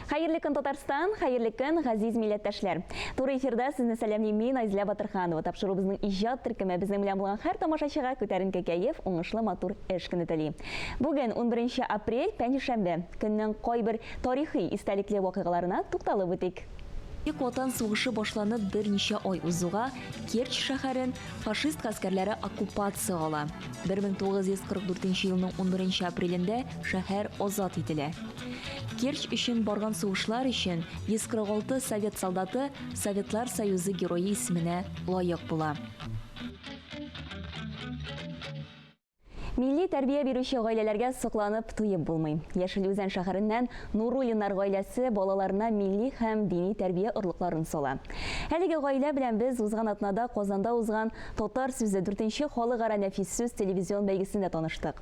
Хәерле көн, Татарстан! Хәерле көн, газиз милләттәшләр! Туры эфирда сезне сәламлим мин, Айзлә Батырханова. Тапшырубызның иҗат төркеме безнең белән булган һәр тамашачыга күтәренке кәеф, уңышлы матур эш көне тели. Бүген 11 апрель, пәнҗешәмбе. Көннең кайбер тарихи истәлекле вакыйгаларына тукталып үтик. Бөек Ватан сугышы башланып берничә ай узуга, Керчь шәһәрен фашист гаскәрләре оккупация ала. 1944 елның 11 апрелендә шәһәр азат ителә. Керчь өчен барган сугышлар өчен 146 совет солдаты Советлар Союзы Герое исеменә лаек була. Милли тәрбия бирүче гаиләләргә сокланып туеп булмый. Яшел Үзән шәһәреннән Нуруллиннар гаиләсе балаларына милли һәм дини тәрбия орлыкларын сала. Әлеге гаилә белән без узган атнада Казанда узган Татар сүзе дүртенче халыкара нәфис сүз телевизион бәйгесендә таныштык.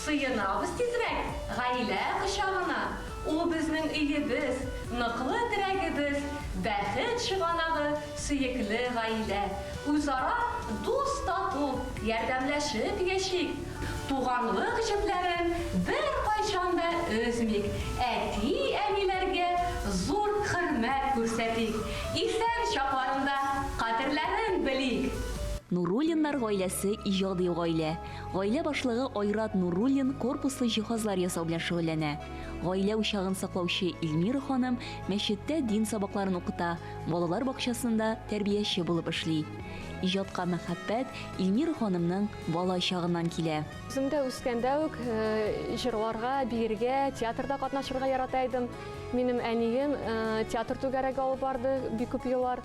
Сыенабыз тизрәк гаилә кочагына, Ул безнең өебез, ныклы терәгебез, Бәхет чыганагы, сөекле гаилә. Үзара дус-тату, ярдәмләшеп яшик, Туганлык җепләрен беркайчан да өзмик, Әти-әниләргә зур хөрмәт күрсәтик, Исән чакларында кадерләрен белик. Нуруллиннар гаиләсе иҗади гаилә. Гаилә башлыгы Айрат Нуруллин корпуслы җиһазлар ясау белән шөгыльләнә. Гаилә учагын саклаучы Илмира ханым мәчеттә дин сабакларын укыта, балалар бакчасында тәрбияче булып эшли. Иҗатка мәхәббәт Илмира ханымның бала чагыннан килә. Үзем дә үскәндә үк җырларга, биергә, театрда катнашырга ярата идем. Минем әнием театр түгәрәге алып барды бик күп еллар.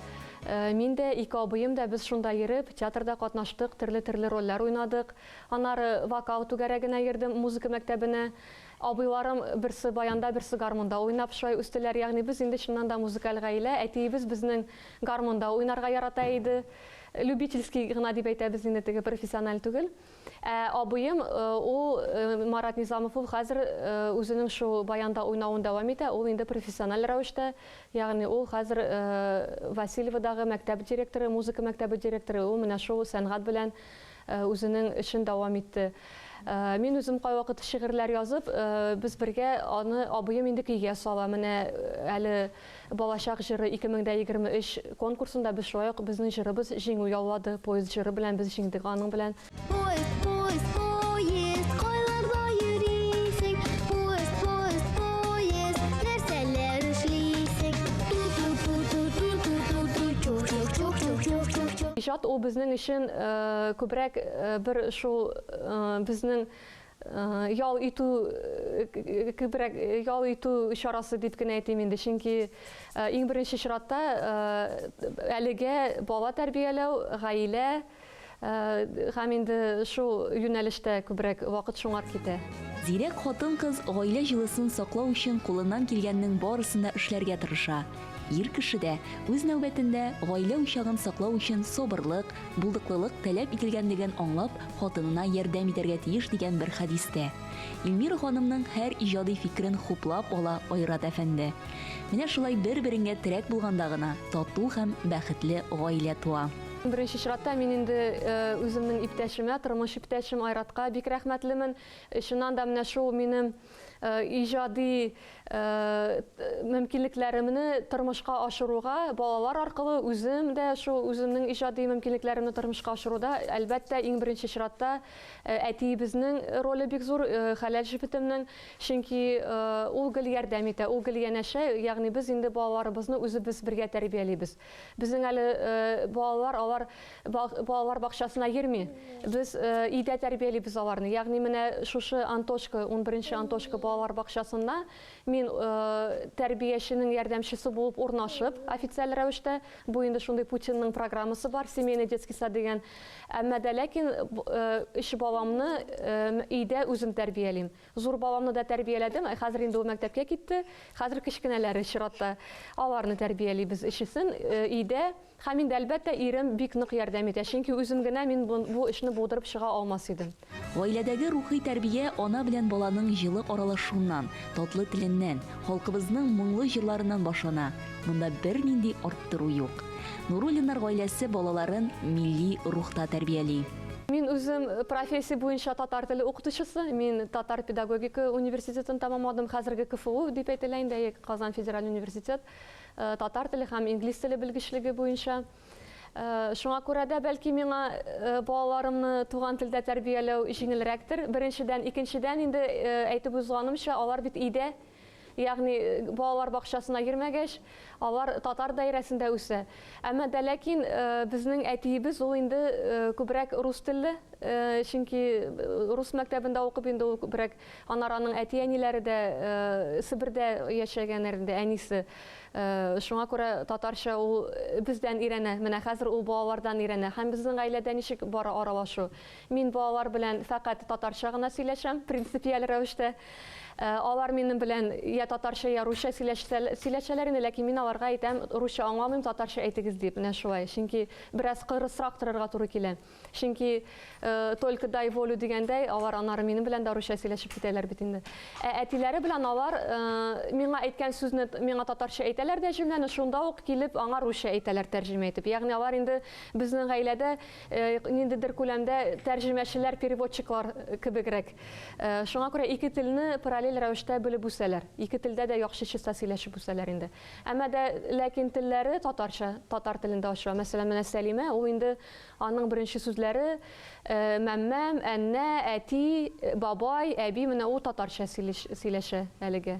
Мин дә, ике абыем да без шунда йөреп, театрда катнаштык, төрле-төрле рольләр уйнадык. Аннары вокал түгәрәгенә йөрдем, музыка мәктәбенә. Абыйларым берсе баянда, берсе гармунда уйнап шулай үстеләр. Ягъни без инде чыннан да музыкаль гаилә. Әтиебез безнең гармунда уйнарга ярата иде. Любительский гына дип әйтәбез инде, теге профессиональ түгел. Ә абыем, ул Марат Низамов, ул хәзер үзенең шул баянда уйнавын дәвам итә, ул инде профессиональ рәвештә, ягъни ул хәзер Васильеводагы мәктәп директоры, музыка мәктәбе директоры, ул менә шул сәнгать белән үзенең эшен дәвам итте. Мин үзем кайвакыт шигырьләр язып, без бергә аны, абыем инде көйгә сала, менә әле Балачак җыры 2023 конкурсында без шулай ук Безнең җырыбыз җиңү яулады, Поезд җыры белән без җиңдек аның белән. Поезд, поезд, поезд, кайларда йөрисең? Поезд, поезд, поезд, нәрсәләр эшлисең? Ту-ту-ту-ту-ту-ту-ту-ту, чух-чух-чух-чух-чух-чух-чух. Иҗат ул безнең өчен күбрәк бер шул безнең Ял итү күбрәк ял итү чарасы дип кенә әйтим инде, чөнки иң беренче чиратта әлегә бала тәрбияләү, гаилә һәм инде шул юнәлештә күбрәк вакыт шуңар китә. Зирәк хатын-кыз гаилә җылысын саклау өчен кулыннан килгәннең барысын да эшләргә тырыша. Ир кеше дә, үз нәүбәтендә, гаилә учагын саклау өчен сабырлык, булдыклылык таләп ителгәнлеген аңлап, хатынына ярдәм итәргә тиеш дигән бер хәдистә. Илмира ханымның һәр иҗади фикерен хуплап ала Айрат әфәнде. Менә шулай бер-береңгә терәк булганда гына тату һәм бәхетле гаилә туа. Беренче чиратта мин инде үземнең иптәшемә, тормыш иптәшем Айратка бик рәхмәтлемен. Чыннан да, менә шул минем иҗади мөмкинлекләремне тормышка ашыруга балалар аркылы үзем дә шул үземнең иҗади мөмкинлекләремне тормышка ашыруда әлбәттә иң беренче чиратта әтиебезнең роле бик зур хәләл җефетемнең чөнки ул гел ярдәм итә ул гел янәшә ягъни без инде балаларыбызны үзебез бергә тәрбиялибез Безнең әле балалар алар балалар бакчасына йөрми. Без өйдә тәрбиялибез аларны. Ягъни менә шушы Антошка, 11-нче Антошка балалар бакчасында мин тәрбияченең ярдәмчесе булып урнашып, официаль рәвештә, бу инде шундый Путинның программасы бар, семейный детский сад дигән. Әмма дә ләкин өч баламны өйдә үзем тәрбиялим. Зур баламны да тәрбияләдем, ә хәзер инде ул мәктәпкә китте. Хәзер кечкенәләре чиратта. Аларны тәрбиялибез өчесен өйдә. Һәм мин дә, әлбәттә, ирем бик нык ярдәм итә, чөнки үзем генә мин бу эшне булдырып чыга алмас идем. Гаиләдәге рухи тәрбия ана белән баланың җылы аралашуыннан, татлы теленнән, халкыбызның моңлы җырларыннан башлана. Монда бернинди арттыру юк. Нуруллиннар гаиләсе балаларын милли рухта тәрбияли. Мин үзем профессия буенча татар теле укытучысы. Мин татар педагогика университетын тамамладым. Хәзерге КФУ дип әйтелә инде, әйе, Казан федераль университет. Э, татар теле һәм инглиз теле белгечлеге буенча. Э, шуңа күрә дә бәлки миңа э, балаларымны туган телдә тәрбияләү җиңелрәктер. Беренчедән, икенчедән инде әйтеп узганымча, алар бит өйдә Ягъни, балалар бакчасына йөрмәгәч, алар татар даирәсендә үсә. Әмма дә ләкин безнең әтиебез ул инде күбрәк рус телле, чөнки рус мәктәбендә укып инде ул күбрәк, аннары аның әти-әниләре дә Себердә яшәгәннәр инде, әнисе. Шуңа күрә татарча ул бездән өйрәнә, менә хәзер ул балалардан өйрәнә. Һәм безнең гаиләдә ничек бара аралашу? Мин бу алар белән фәкать татарча гына сөйләшәм, принципиаль рәвештә. Э, алар минем белән я татарча, я русча сөйләшәләр инде, ләкин мин аларга әйтәм, русча аңламыйм, татарча әйтегез дип, менә шулай. Чөнки бераз кырысрак торырга туры килә. Чөнки э, только дай волю дигәндәй, алар анары минем белән дә русча сөйләшеп китәләр бит инде. Ә әтиләре белән алар э, миңа әйткән сүзне миңа татарча әйтәләр дә җөмләне, шунда ук килеп аңа русча әйтәләр тәрҗемә итеп. Ягъни алар инде безнең гаиләдә ниндидер күләмдә тәрҗемәчеләр, переводчиклар кебегрәк. Шуңа күрә ике телне параллель рәвештә белеп үсәләр. Ике телдә дә яхшычыса сөйләшеп үсәләр инде. Әмма дә ләкин телләре татарча, татар телендә ачыла. Мәсәлән, менә Сәлимә, ул инде аның беренче сүзләре мәммәм, әннә, әти, бабай, әби, менә ул татарча сөйләшә әлегә.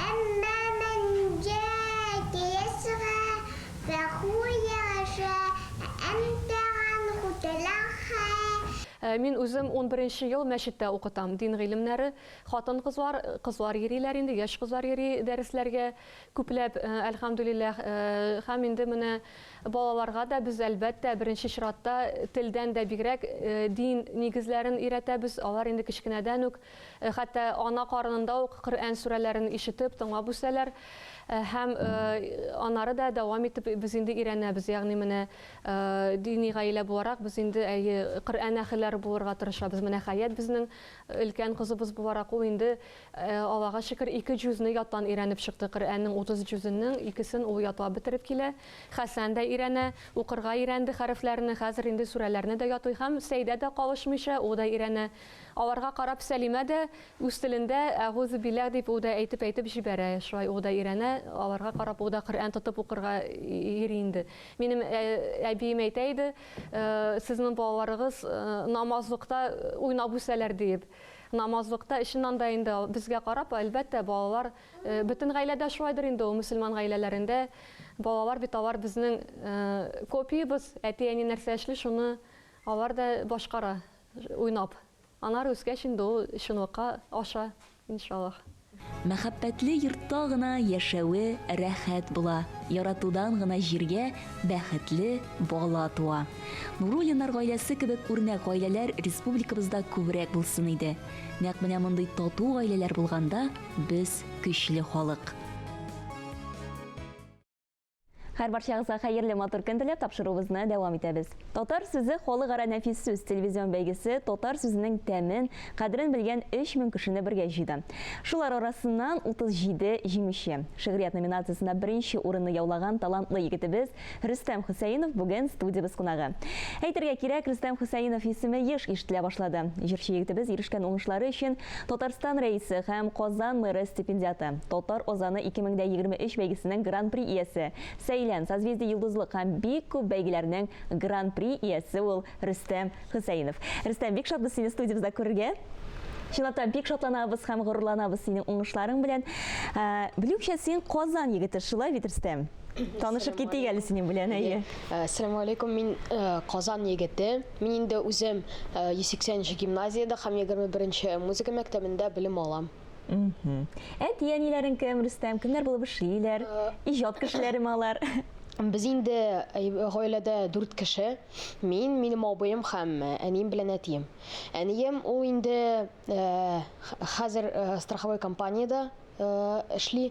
Әмма мәнҗә киесга фәху яшә әмтәган хутелахә. Мин үзем унберенче ел мәчеттә укытам, дин гыйлемнәре, хатын-кызлар, кызлар йөриләр инде, яшь кызлар йөри дәресләргә күпләп, әлхәмдүлилләһ, һәм инде менә балаларга да без, әлбәттә, беренче чиратта телдән дә бигрәк дин нигезләрен өйрәтәбез, алар инде кечкенәдән үк Хәтта ана карынында ук Коръән сүрәләрен ишетеп, тыңлап үсәләр. Һәм аннары да дәвам итеп без инде өйрәнәбез. Ягъни менә дини гаилә буларак без инде әйе Коръән әһелләре булырга тырышабыз. Менә Хәят безнең өлкән кызыбыз буларак ул инде Аллага шөкер ике җүзне яттан өйрәнеп чыкты. Коръәннең 30 җүзенең икесен ул ятлап бетереп килә. Хәсән дә өйрәнә, укырга өйрәнде хәрефләрне, хәзер инде сүрәләрне дә ятлый һәм Сәйдә дә калышмыйча ул да өйрәнә. Аларга карап Сәлимә дә үз телендә әгузебиләһ дип ү дә әйтеп-әйтеп җибәрә. Шулай ү дә өйрәнә, аларга карап ү дә Коръән тотып укырга йөри инде. Минем әбием әйтә иде, Сезнең балаларыгыз намазлыкта уйнап үсәләр, диеп. Намазлыкта, чыннан да инде, безгә карап, әлбәттә, балалар, бөтен гаиләдә шулайдыр инде ул, мөселман гаиләләрендә балалар бит алар безнең копиябез, әти-әни нәрсә эшли, шуны алар да башкара. уйнап. Аннары үскәч инде ул чынлыкка аша, иншаллаһ. Мәхәббәтле йортта гына яшәве рәхәт була, яратудан гына җиргә бәхетле бала туа. Нуруллиннар гаиләсе кебек үрнәк гаиләләр республикабызда күбрәк булсын иде. Нәкъ менә мондый тату гаиләләр булганда без көчле халык. Хәр барчагызга хәерле матур көн теләп тапшыруыбызны дәвам итәбез. Татар сүзе халыкара нәфис сүз телевизион бәйгесе татар сүзенең тәмен, кадерен белгән 3000 кешене бергә җыйды. Шулар арасыннан 37 җиңүче. Шигърият номинациясендә беренче урынны яулаган талантлы егетебез Рөстәм Хөсәенов бүген студиябез кунагы. Әйтергә кирәк, Рөстәм Хөсәенов исеме еш ишетелә башлады. Җырчы егетебез ирешкән уңышлары өчен Татарстан Рәисе һәм Казан мэры стипендиаты, Татар Озаны 2023 бәйгесенең Гран-при иясе, Сәйлән, Созвездие Йолдызлык һәм бик күп бәйгеләрнең Гран-при иясе ул Рөстәм Хөсәенов. Рөстәм, бик шатбыз сине студиябездә күрергә. Чынлап та бик шатланабыз һәм горурланабыз синең уңышларың белән. Ә, Белүемчә, син Казан егете, шулай бит, Рөстәм? Танышып китик әле синең белән, әйе. Ә, Ассаламу алейкум, мин э, Казан егете. Мин инде үзем 180 нче гимназиядә һәм егерме беренче музыка мәктәбендә белем алам. Әти-әниләрең кем, Рөстәм? Кемнәр булып эшлиләр? Иҗат кешеләреме алар? Без инде гаиләдә дүрт кеше. Мин, минем абыем һәм әнием белән әтием. Әнием ул инде хәзер страховой компаниядә эшли.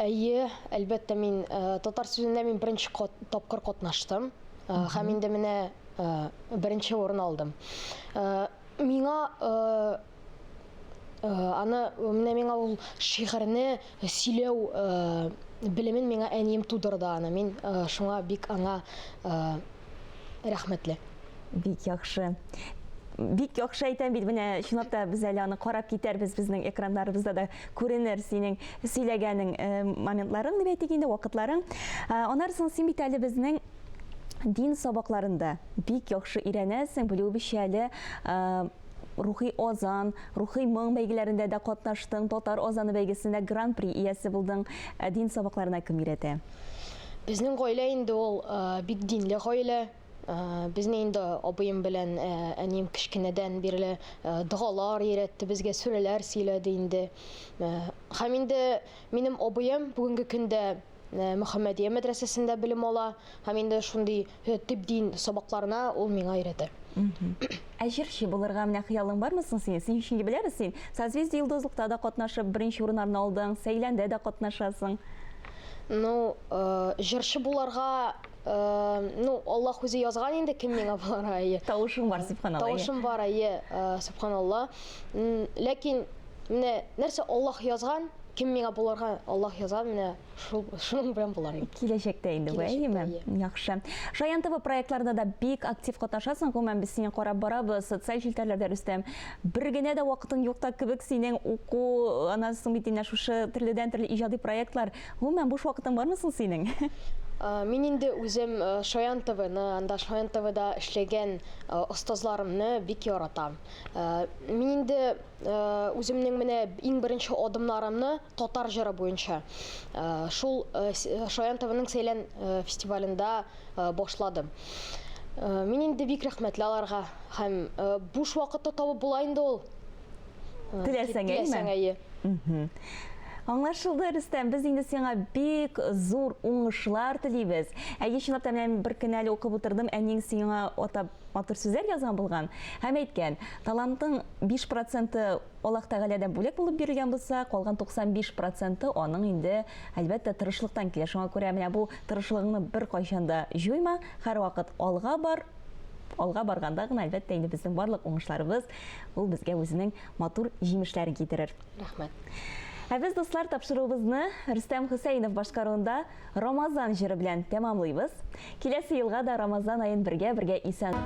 Әйе, әлбәттә, мин татар сүзендә мин беренче тапкыр катнаштым һәм инде менә беренче урын алдым. Миңа аны менә миңа ул шигырьне сөйләү белемен миңа әнием тудырды аны. Мин шуңа бик аңа Рәхмәтле. Бик яхшы. Бик яхшы әйтәм бит, менә чынлап та без әле аны карап китәрбез, безнең экраннарыбызда да күренер синең сөйләгәнең э, моментларың дип әйтик инде, вакытларың. Э, Анар соң син бит әле безнең дин сабакларында бик яхшы өйрәнәсең, белү бишәле э, рухи озан, рухи моң бәйгеләрендә дә катнаштың, татар озаны бәйгесендә гран-при иясе булдың. Дин сабакларына кем өйрәтә? Безнең гаилә инде ул бик динле гаилә. Безне инде абыем белән әнием кечкенәдән бирле догалар өйрәтте, безгә сүрәләр сөйләде инде. Һәм инде минем абыем бүгенге көндә Мөхәммәдия мәдрәсәсендә белем ала һәм инде шундый Төп дин сабакларына ул миңа өйрәтә. Ә җырчы булырга менә хыялың бармы соң синең? Син чөнки беләбез син Созвездие йолдызлыкта да катнашып, беренче урыннарны алдың, Сәйләндә дә катнашасың. Ну, э, җырчы буларга, э, ну, Аллаһ үзе язган инде кем миңа буларга, әйе. Тавышың бар, субханалла. Тавышым бар, әйе, э, субханалла. Ләкин менә нәрсә Аллаһ язган, кем миңа буларга Аллаһ язган, менә шул шуның белән болар инде киләчәктә инде бу әйеме яхшы шаян тв проектларында да бик актив катнашасың гомумән без сине карап барабыз социаль челтәрләрдә рөстәм бер генә дә вакытың юк та кебек синең уку аннан соң бит инде шушы төрледән төрле иҗади проектлар гомумән буш вакытың бармы соң синең Мин инде үзем Шаян ТВны, анда Шаян ТВда эшләгән остазларымны бик яратам. Мин инде үземнең менә иң беренче адымнарымны татар җыры буенча шул Шаян ТВның Сәйлән фестивалендә башладым. Мин инде бик рәхмәтле аларга һәм буш вакытта табып була инде ул. Теләсәңәйме? Аңлашылды, Рөстәм. Без инде сиңа бик зур уңышлар телибез. Әйе, чынлап та, менә бер көн әле укып утырдым, әниең сиңа атап Матур сүзләр язган булган һәм әйткән, талантың биш проценты Аллаһ Тәгаләдән бүләк булып бирелгән булса, калган 95 проценты аның инде, әлбәттә, тырышлыктан килә. Шуңа күрә менә бу тырышлыгыңны беркайчан да җуйма, һәрвакыт алга бар. Алга барганда гына, әлбәттә, инде безнең барлык уңышларыбыз ул безгә үзенең матур җимешләрен китерер. Рәхмәт. Ә без, дуслар, тапшыруыбызны Рөстәм Хөсәенов башкаруында Рамазан җыры белән тәмамлыйбыз. Киләсе елга да Рамазан аен бергә-бергә исән